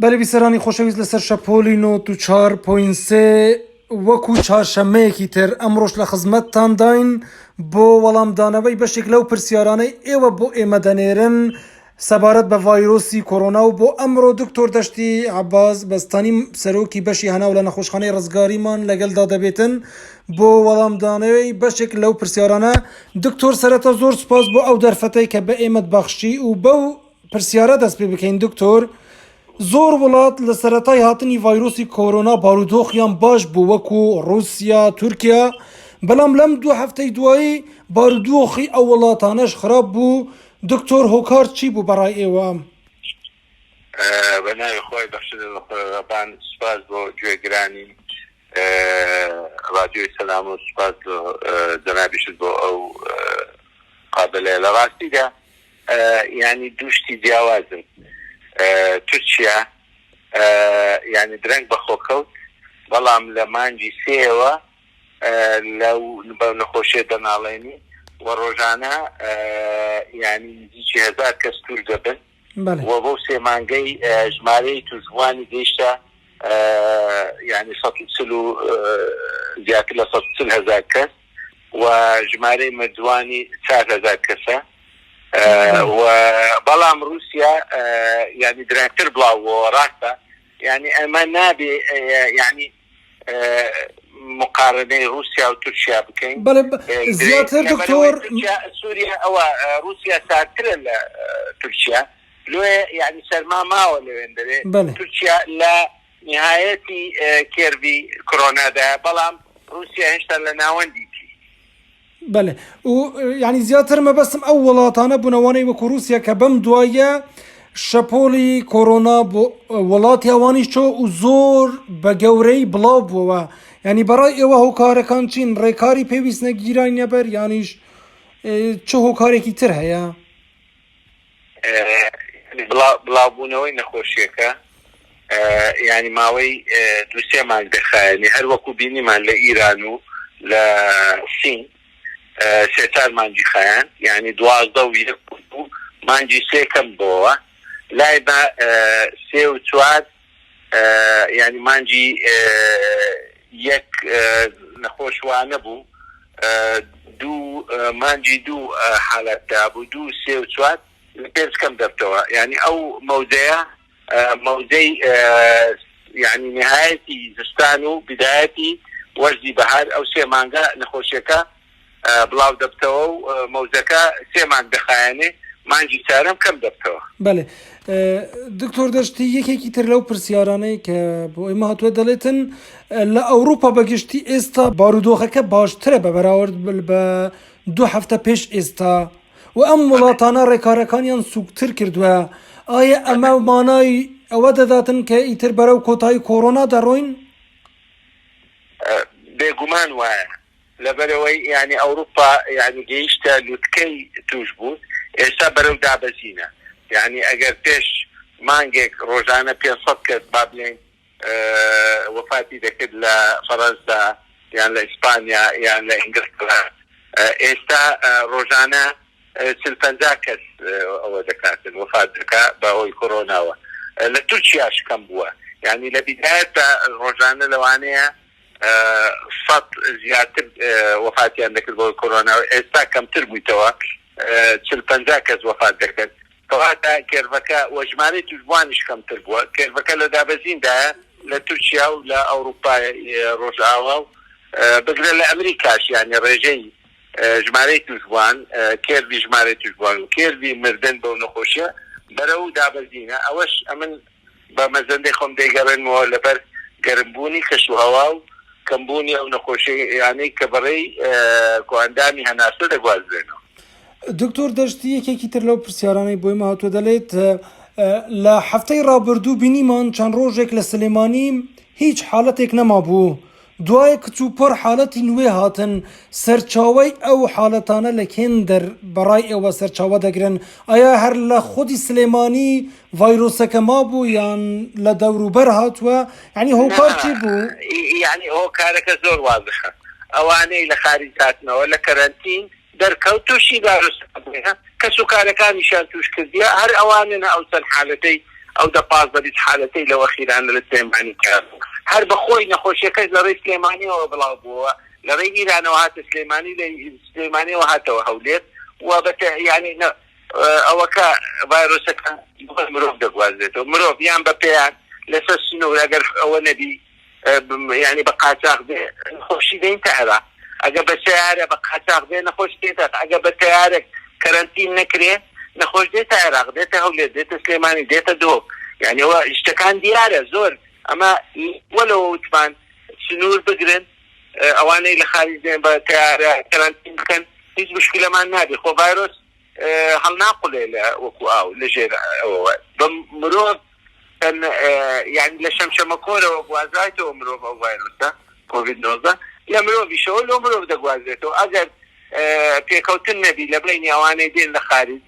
بەرە بیسەرانی خۆشەویست لەسەر شەپۆلی نۆت و چوار پۆین سێ وەکو چارشەمەیەکی تر ئەمڕۆش لە خزمەتتانداین بۆ وەڵامدانەوەی بەشێک لەو پرسیارانەی ئێوە بۆ ئێمە دەنێرن سەبارەت بە ڤایرۆسی کۆرۆنا و بۆ ئەمڕۆ دکتۆر دەشتی عەباس بەستانی سەرۆکی بەشی هەناو لە نەخۆشخانەی ڕزگاریمان لەگەلدا دەبێتن بۆ وەڵامدانەوەی بەشێک لەو پرسیارانە دکتۆر سەرەتا زۆر سوپاس بۆ ئەو دەرفەتەی کە بە ئێمەت بەخشی و بەو پرسیارە دەست پێ بکەین دکتۆر زۆر وڵات لە سەرەتای هاتنی ڤایرۆسی کۆرۆنا بارودۆخیان باش بوو وەکو ڕوسیا تورکیا بەڵام لەم دوو هەفتەی دوایی بارودۆخی ئەو وڵاتانەش خراپ بوو دکتۆر هۆکار چی بوو بەڕای ئێوە؟ بەناوی خۆی بەخشەبان سپاس بۆ گوێگرانی رادیۆی سەلام و سپاس جەنابیشت بۆ ئەو قابلەیە لە ڕاستیدا یانی دوو شتی جیاوازن تورکیا یانی درەنگ بەخۆ کەوت بەڵام لە مانگی سێیەوە لەو بەو نەخۆشیە دەناڵێنی و ڕۆژانە یانی نزیکی هەزار کەس توش دەبن و بۆ سێ مانگەی ژمارەی توشبووانی گەیشتە یانی سەد و چل و زیاتر لە سەد و چل هەزار کەس و ژمارەی مردووانی چار هەزار کەسە و بەڵام رووسیا یانی درەنگتر بڵاو بۆوە راستە یانی ئەمە نابێ یانی مقارنەی رووسیا و تورکیا بکەین بەڵێ زیاتر دکتۆر سوریا ئەوە رووسیا ساردترە لە تورکیا لۆیە یانی سەرما ماوە لەوێن دەوێ تورکیا لە نیهایەتی کێرڤی کۆرۆنادا، بەڵام ڕووسیا هێشتا لە ناوەندیی. بەلێ و یانی زیاتر مەبەستم ئەو وڵاتانە بوون ئەوانەی وەکو ڕووسیا کە بەم دواییە شەپۆڵی کۆرۆنا بۆ وڵاتی ئەوانیش چۆ و زۆر بە گەورەی بڵاو بووەوە یانی بەڕای ئێوە هۆکارەکان چین ڕێکاری پێویست نەگیرای نەبەر یانیش چ هۆکارێکی تر هەیە؟ بڵاوبوونەوەی نەخۆشییەکە یانی ماوەی دوو سێ مانگ دەخایەنێ، هەر وەکو بینیمان لە ئیران و لە سین سێ چار مانگی خایاند، یانی دوازدە و یەک و دوو مانگی سێ کەم بۆوە لای بە سێ و چوار. یانی مانگی یەک نەخۆش وانەبوو دوو مانگی دوو حالات دابوو دوو سێ و چوار پێنج کەم دەبتەوە یانی ئەو مەودەیە مەودەی یانی نهایەتی زستان و بدایەتی وەرزی بەهار ئەو سێ مانگە نەخۆشیەکە بڵاو دەبتەوە و مەوزەکە سێ مانگ دەخایەنێ مانگی چارەم کەم دەبتەوە. بەڵێ دکتۆر دەشتی یەکێکی تر لەو پرسیارانەی کە بۆ ئێمە هاتووە دەڵێتن لە ئەوروپا بەگشتی ئێستا بارودۆخەکە باشترە بە بەراورد بە دوو هەفتە پێش ئێستا و ئەم وڵاتانە ڕێکارەکانیان سوکتر کردووە ئایا ئەمە مانای ئەوە دەداتن کە ئیتر بەرەو کۆتایی کۆرۆنا دەڕۆین بێگومان وایە لەبەرئەوەی یانەی ئەوروپا یانی گەیشتە لوتکەی توشبون ئێستا بەرەو دابەزینە یانی ئەگەر پێش مانگێک رۆژانە پێنج سەد کەس با بلێین وەفاتی دەکرد لە فەرەنسا یان لە ئیسپانیا یان لە ئینگلتەرا ئێستا رۆژانە چل پەنجا کەس ئەوە دەکاتن وەفات دەکا بە هۆی کۆرۆناوە لە تورکیاش کەم بوە یانی لە بیدایەتدا رۆژانە لەوانەیە سەد زیاتر وەفاتیان دەکرد بەهۆی کۆرۆنا و ئێستا کەمتر بوویتەوە چل پەنجا کەس وەفات دەکەن کەواتە کێرڤەکە وە ژمارەی توشبوانیش کەمتر بووە کێرڤەکە لە دابەزیندایە لە تورکیا و لە ئەوروپای ڕۆژئاوا و بگرە لە ئەمریکاش یانی ڕێژەی ژمارەی توشبوان کێرڤی ژمارەی توشبوان و کێرڤی مردن بەو نەخۆشیە بەرەو دابەزینە ئەوەش ئەمن بە مەزەندەی خۆم دەیگەڕێنمەوە لەبەر گەرمبوونی کەشوهەوا و کەمبوونی ئەو نەخۆشییانەی کە بەڕێی کۆئەندامی هەناسە دەگوازرێنەوە. دکتۆر دەشتی یەکێکی تر لەو پرسیارانەی بۆ ئێمە هاتووە دەڵێت، لە هەفتەی ڕابردوو بینیمان چەند ڕۆژێک لە سلێمانی هیچ حاڵەتێک نەمابوو، دوای کچوپڕ حالەتی نوێ هاتن، سەرچاوەی ئەو حالەتانە لە کێن دەر بەڕای ئێوە سەرچاوە دەگرن؟ ئایا هەر لە خودی سلێمانی ڤایرۆسەکە مابوو یان لە دەوروبەر هاتووە؟ یانی هۆکار چی بوو؟ نا یانی هۆکارەکە زۆر وازحە ئەوانەی لە خاریج هاتنەوە لە کەرەنتین دەرکەوت تووشی دارستان بووە، کەس و کارەکانیشیان تووش کردیە، هەر ئەوانن ئەو چەند حالەتەی ئەو دە پازدە بیست حالەتەی لەو ئەخیرانە لە سلێمانی تیان بوو، هەر بە خۆی نەخۆشیەکەش لە رێی سلێمانیەوە بڵاو بووەوە، لە رێی ئیرانەوە هاتە سلێمانی، لە سلێمانیەوە هاتەوە هەولێر و بە تە یانی نە وەکە ڤایرۆسەکە بە مرۆڤ دەگوازرێتەوە، مرۆڤ یان بە پێیان لە سەر سنوور ئەگەر ئەوە نەبی، یانی بە قاچاخ بێ نەخۆشی دەین تە عێراق ئەگە بە سەیارە بە قاچاخ بێ نەخۆش دێتە عێراق ئەگە بە تەیارەک کەرەنتین نەکرێ نەخۆش دێتە عێراق دێتە هەولێر دێتە سلێمانی دێتە دهۆک یانی ئەوە شتەکان دیارە زۆر ئەمە وە لەوە وتمان سنوور بگرن ئەوانەی لە خاریج دێن بە تەیارە کەرەنتین بکەن هیچ مشکلەمان نابێ خۆ ڤایرۆس هەڵناقولێ لە وەکو ئاو لە ژێر ئەوەوە بە مرۆڤ تەن یانی لە شەمشەمە کۆرەوە گوازرایتەوە مرۆڤ ئەو ڤایرۆسە کۆڤید نۆزدە لە مرۆڤیشەوە لۆ مرۆڤ دەگوازرێتەوە ئەگەر پێکەوتن نەبی لە بەینی ئەوانەی دێن لە خاریج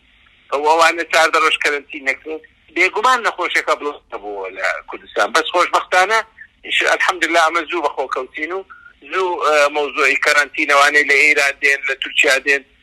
ئەو ئەوانە چاردە ڕۆژ کەرەنتین نەکرێن بێگومان نەخۆشەکە بڵ نەبووە لە کوردستان بەس خۆشبەختانە الحمدللە ئەمە زوو بەخۆ کەوتین و زوو مەوزوعی کەرەنتینەوانەی لە ئێران دێن لە تورکیا دێن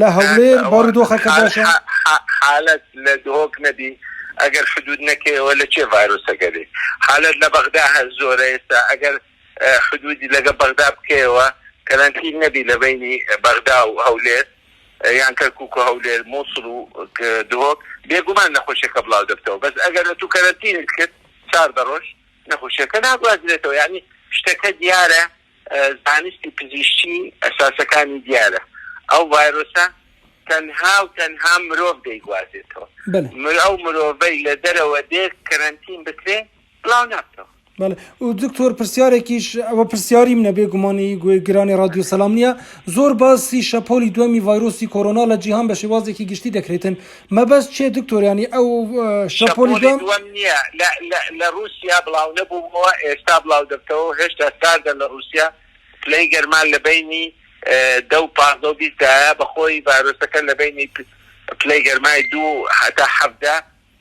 لە هەولێر بارودۆخەکەدا چۆنە؟ حالت لە دهۆک نەبی ئەگەر حدود نەکەیەوە لە چێ ڤایرۆسەکە بێ حالت لە بەغدا هەر زۆرە ئێستا ئەگەر حدودی لەگە بەغدا بکەیەوە کەرەنتین نەبی لە بەینی بەغدا و هەولێر یان کەرکوک و هەولێر موسڵ و دهۆک بێگومان نەخۆشیەکە بڵاو دەبتەوە بەس ئەگەر ئەتوو کەرەنتینت کرد چاردە ڕۆژ نەخۆشیەکە ناگوازرێتەوە یانی شتەکە دیارە زانستی پزیشکی ئەساسەکانی دیارە، ئەو ڤایرۆسە تەنها و تەنها مرۆڤ دەیگوازێتەوە، ئەو مرۆڤەی لە دەرەوە دێت کەرەنتین بکرێ بڵاو نابتەوە. بەڵێ دکتۆر پرسیارێکیش ئەوە پرسیاری منە بێ گومان ی گوێ گرانی ڕادیۆ سەلام نیە زۆر باسی شەپۆلی دوەمی ڤایرۆسی کۆرۆنا لە جیهان بە شێوازێکی گشتی دەکرێتن مەبەست چیە دکتۆر یانی ئەو شەپۆلی شەپۆلی دوام؟ دوەم نیە لە لە لە روسیا بڵاو نەبووەوە ئێستا بڵاو دەبتەوەو هێشتا ساردە لە روسیا پلەی گەرما لە بەینی دە و پازدە و بیست دایە بەخۆی ڤایرۆسەکە لە بەینی پلەی گەرمای دوو و هەتا حەڤدە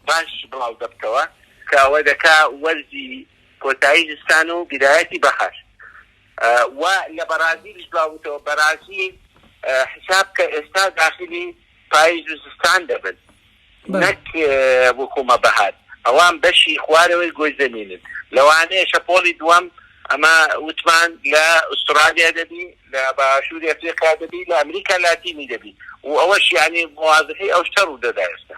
باش بڵاو دەبتەوە کە ئەوە دەکا وەرزی کۆتایی زستان و بیدایەتی بەهار وە لە بەرازیلیش بڵاو بوتەوە بەرازیل حیساب کە ئێستا داخلی پایز و زستان دەبن نەک وەکو مە بەهار ئەوان بەشی خوارەوەی گۆی زەمینن لەوانەیە شەپۆڵی دووەم ئەمە وتمان لە ئوسترالیا دەبی لە باشووری ئەفریقا دەبی لە ئەمریکا لاتینی دەبی و ئەوەش یانی موازنەی ئەو شتە ڕوودەدا ئێستا.